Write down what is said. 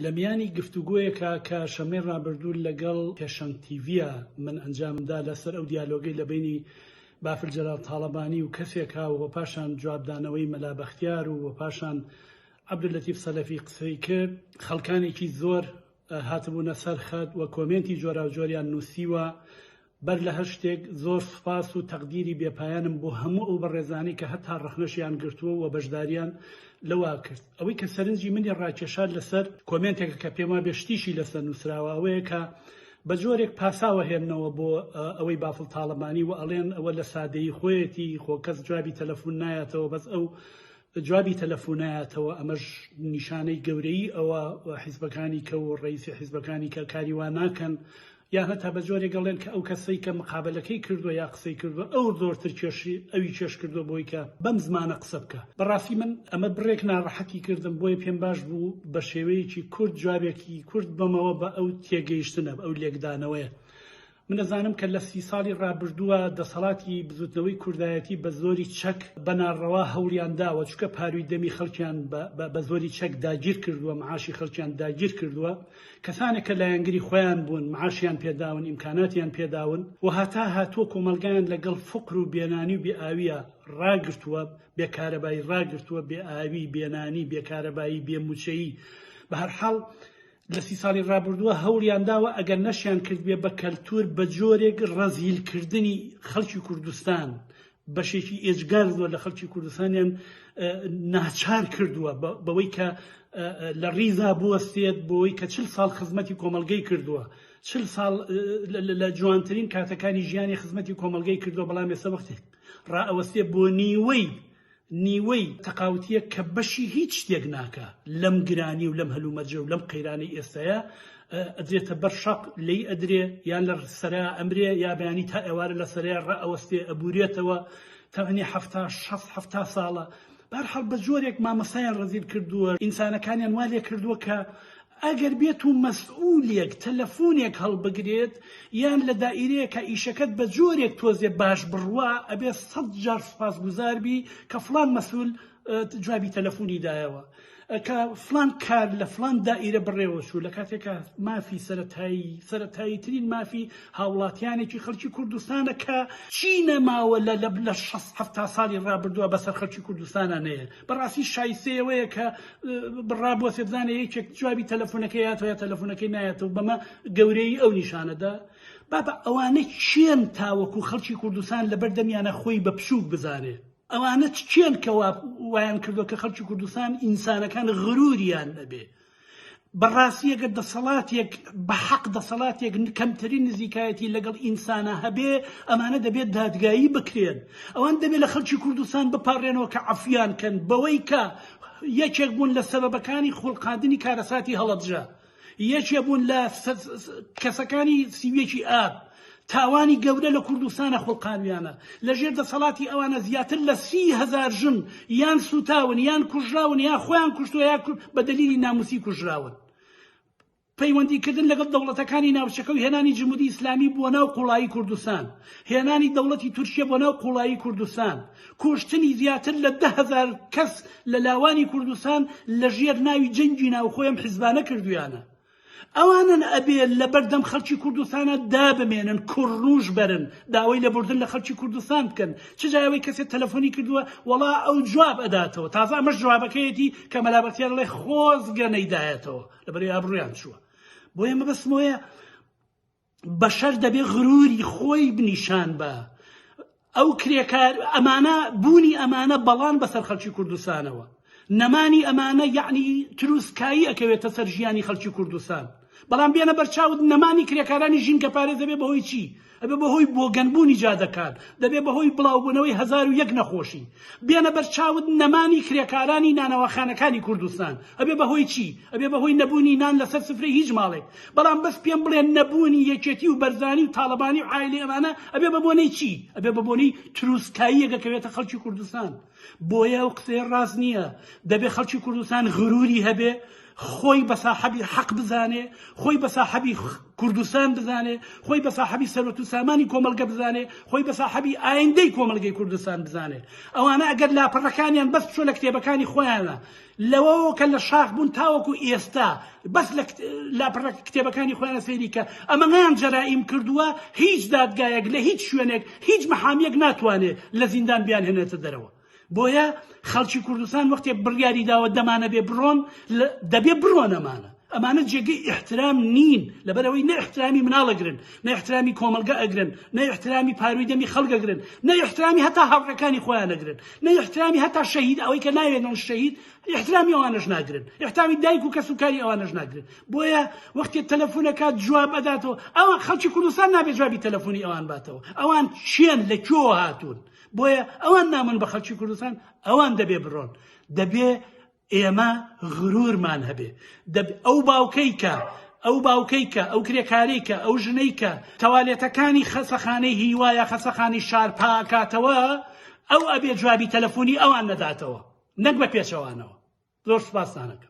لە میانی گفتوگۆیەکا کە شەممەی ڕابردوو لەگەڵ پێشەنگ تیڤیا من ئەنجامم دا لە سەر ئەو دیالۆگەی لە بەینی بافل جەلال تاڵەبانی و کەسێکا و پاشان جواب دانەوەی مەلا بەختیار و پاشان عەبدولەتیف سەلەفی قسەی کرد خەڵکانێکی زۆر هاتبوونە سەر خەت و کۆمێنتی جۆراوجۆریان نووسیوە بەر لە هەر شتێک زۆر سوپاس و تەقدیری بێپایانم بۆ هەموو ئەو بەڕێزانەی کە هەتا ڕەخنەشیان گرتووە و بەشداریان لەوە کرد. ئەوەی کە سەرنجی منی ڕاکێشا لەسەر کۆمێنتێکە کە پێم وابێ شتیشی لەسەر نووسراوە ئەوەیە کە بە جۆرێک پاساو ئەهێننەوە بۆ ئەوەی بافڵ تاڵەبانی و ئەڵێن ئەوە لە سادەیی خۆیەتی خۆ کەس جوابی تەلەفون نایەتەوە بەس ئەو جوابی تەلەفونایەتەوە ئەمەش نیشانەی گەورەی ئەوە حیزبەکانی کە و ڕیسی حیزبەکانی کە کاری وا ناکەن یان هەتا بە جۆرێک ئەڵێن کە ئەو کەسەی کە مقابەلەکەی کردوە یا قسەی کردوە ئەو زۆرتر کێشی ئەوی کێش کردوە بۆی کە بەم زمانە قسە بکا بە ڕاستی من ئەمە بڕێک ناڕەحەتی کردم بۆیە پێم باش بوو بە شێوەیەکی کورت جوابێکی کورت بەمەوە بە ئەو تێگەیشتنە بە ئەو لێکدانەوەیە من ئەزانم کە لە سی ساڵی ڕابردووە دەسەڵاتی بزوتنەوەی کوردایەتی بە زۆری چەک بە ناڕەوا هەوڵیان داوە چکە پاروی دەمی خەڵکیان بە بە زۆری چەک داگیر کردوە معاشی خەڵکیان داگیر کردوە کەسانێک کە لایەنگری خۆیان بوون، معاشیان پێداون، ئیمکاناتیان پێداون و هەتا هاتووە کۆمەڵگایان لەگەڵ فەقر و بێنانی و بێ ئاوییە ڕاگرتووە، بێ کارەبایی ڕاگرتووە، بێ ئاوی، بێ نانی، بێ کارەبایی، بێ مووچەیی. بە هەر حاڵ لە سی ساڵی ڕابوردووە هەوڵیان داوە ئەگەر نەشیان کردبێ بە کەلتوور بە جۆرێک ڕەزیل کردنی خەڵکی کوردستان بەشێکی ئێجگار زۆر لە خەڵکی کوردستانیان ناچار کردووە بەوەی کە لە ڕیزا بوەستێت بۆی کە چل ساڵ خزمەتی کۆمەلگەی کردووە چل ساڵ لە جوانترین کاتەکانی ژیانی خزمەتی کۆمەلگەی کردووە بەڵام ێسە وەختێک ڕائەوەستێ بۆ نیوەی نیوەی تەقاوتیە کە بەشی هیچ شتێک ناکە لەم گرانی و لەم هەلومەرجە و لەم قەیرانی ئێستەیە ئەدرێتە بەر شەق لێی ئەدرێ یا لە سەرا ئەمرێ یا بەیانی تا ئێوارە لە سەرێ ڕئەوەستێ ئەبورێتەوە تەمەنی هەفتا شەست هەفتا ساڵە بار هەڵ بە جۆرێک مامەسایان ڕزیل کردووە ئینسانەکانیان وا لێ کردووە کە ئەگەر بێت و مەسئولێک تەلەفۆنێک هەڵبگرێت یان لە دائیرەیەکە ئیشەکەت بە جۆرێک تۆزێ باش بڕوا ئەبێ سەد جار سوپاس گوزاربی کە فلان مەسول جوابی تەلەفۆنی دایەوە کە فلان کار لە فلان دائیرە بڕێوە چوو لە کاتێکە مافی سەتایی سەتایی ترین مافی هاوڵاتیانێکی خەڵکی کوردستانە کە چی نەماوە لە لە لە هەفتا ساڵی ڕابردووە بەسەر خەڵکی کوردستانە نەیە بەڕاستی شایسەیەوەیە کە بڕابووە سێبزانە یەکێک جوابی تەلەفۆنەکە یاتوە تەلەفۆنەکەی نایەتەوە بەمە گەورەی ئەو نیشانەدا بابە ئەوانە چێن تاوەکو خەڵکی کوردستان لەبەردەمیانە خۆی بە پشوک بزانێت ئەوانە کێن کە وایان کردو کە خەڵکی کوردستان ئینسانەکان غروریان نەبێ بەڕاستیەکە دەسەڵاتێک بە حەق دەسەڵاتێک کەمترین نزیکایەتی لەگەڵ ئینسانە هەبێ ئەمانە دەبێت دادگایی بکرێن ئەوان دەبێت لە خەڵکی کوردستان بپارێنەوە کە عفیان کەن بەوەی کە یەکێک بوون لە سەبەکانی خوڵقاندنی کارەساتی هەڵەبجە یەکێ بوون لە کەسەکانی سیویەکی ئاب تاوانی گەورە لە کوردستانە خوڵقانویانە لە ژێر دەسەڵاتی ئەوانە زیاتر لە سی هزار ژن یان سوتاون یان کوژراون یا خۆیان کوشتوە یا بە دلیلی ناموسی کوژراون پەیوەندیکردن لەگەڵ دەوڵەتەکانی ناوچەکە و هێنانی جمهوری ئیسلامی بۆ ناو قوڵایی کوردستان هێنانی دەوڵەتی تورکیە بۆ ناو قوڵایی کوردستان کوشتنی زیاتر لە دە هەزار کەس لە لاوانی کوردستان لە ژێر ناوی جەنگی ناوخۆی ئەم حیزبانە کردویانە. ئەوانن ئەبێ لە بەردەم خەڵکی کوردستانە دابمێنن کوڕنوش بەرن داوای لە بردن لە خەڵکی کوردستان بکەن چ جای ئەوەی کەسێ تەلەفۆنی کردووە وەڵا ئەو جواب ئەداتەوە تازە ئەمەش جوابەکەیەتی کە مەلا بەختیار ڵێ خۆزگە نەیدایەتەوە لەبەرەی ئابڕویان چووە بۆیە مەبەستمۆیە بەشەر دەبێ غروری خۆی نیشان بە ئەو کرێکار ئەمانە بوونی ئەمانە بەڵان بەسەر خەلکی کوردستانەوە نەمانی ئەمانە یعنی تروسکایی ئەکەوێتە سەر ژیانی خەلکی کوردستان بەڵام بێنە بەرچاوت نەمانی کرێکارانی ژینکە پارێز دەبێ بەهۆی چی ئەبێ بەهۆی بۆگەنبوونی جادەکان دەبێ بەهۆی بڵاوبوونەوەی هزار و یەک نەخۆشی بێنە بەرچاوت نەمانی کرێکارانی نانەواخانەکانی کوردستان ئەبێ بەهۆی چی ئەبێ بەهۆی نەبوونی نان لەسەر سفرەی هیچ ماڵێک بەڵام بەس پێم بڵێن نەبوونی یەکێتی و بەرزانی و تاڵەبانی و عایلەی ئەمانە ئەبێ بە بۆنەی چی ئەبێ بە بۆنەی تروسکاییە دەکەوێتە خەڵکی کوردستان بۆیە ئەو قسەیە ڕاست نییە دەبێ خەڵکی کوردستان غروری هەبێ خۆی بە ساحەبی حەق بزانێ خۆی بە ساحەبی کوردستان بزانێ خۆی بە ساحەبی سەرۆت و سامانی کۆمەلگە بزانێ خۆی بە ساحەبی ئایندەی کۆمەلگەی کوردستان بزانێ ئەوانە ئەگەر لاپەڕەکانیان بەس بچۆ لە کتێبەکانی خۆیانە لەوەوە کە لە شاخ بوون تاوەکو ئێستا بەس لە لاپەڕە کتێبەکانی خۆیانە سەیری کە ئەمەیان جەرائیم کردووە هیچ دادگایەک لە هیچ شوێنێک هیچ محامیەک ناتوانێ لە زیندان بیانهێنێتە دەرەوە بۆیە خەڵکی کوردستان وەختێک بڕیاری داوە دەمانەبێ بڕۆن دەبێ بڕۆن ئەمانە ئەمانە جێگەی ئیحترام نین لەبەرئەوەی نە ئیحترامی مناڵ ئەگرن نە ئیحترامی کۆمەڵگە ئەگرن نە ئیحترامی پاروی دەمی خەڵک ئەگرن نە ئیحترامی هەتا هاوڕێکانی خۆیان ئەگرن نە ئیحترامی هەتا شەهید ئەوەی کە ناوێنن شەهید ئیحترامی ئەوانەش ناگرن ئیحتامی دایک و کەس و کاری ئەوانەش ناگرن بۆیە وەختێ تەلەفون ئەکات جواب ئەداتەوە ئەوان خەڵکی کوردستان نابێ جوابی تەلەفونی ئەوان باتەوە ئەوان کێن لە کوێوە هاتوون بۆیە ئەوان نامن بە خەڵکی کوردستان ئەوان دەبێ بڕۆن دەبێ ئێمە غرورمان هەبێ دەب ئەو باوکەی کە ئەو باوکەی کە ئەو کرێکاری کە ئەو ژنەی کە تەوالێتەکانی خەسەخانەی هیوایە خەسەخانی شار پاکاتەوە ئەو ئەبێ جوابی تەلەفۆنی ئەوان نەداتەوە نەک بە پێچەوانەوە زۆر سپاسانەکە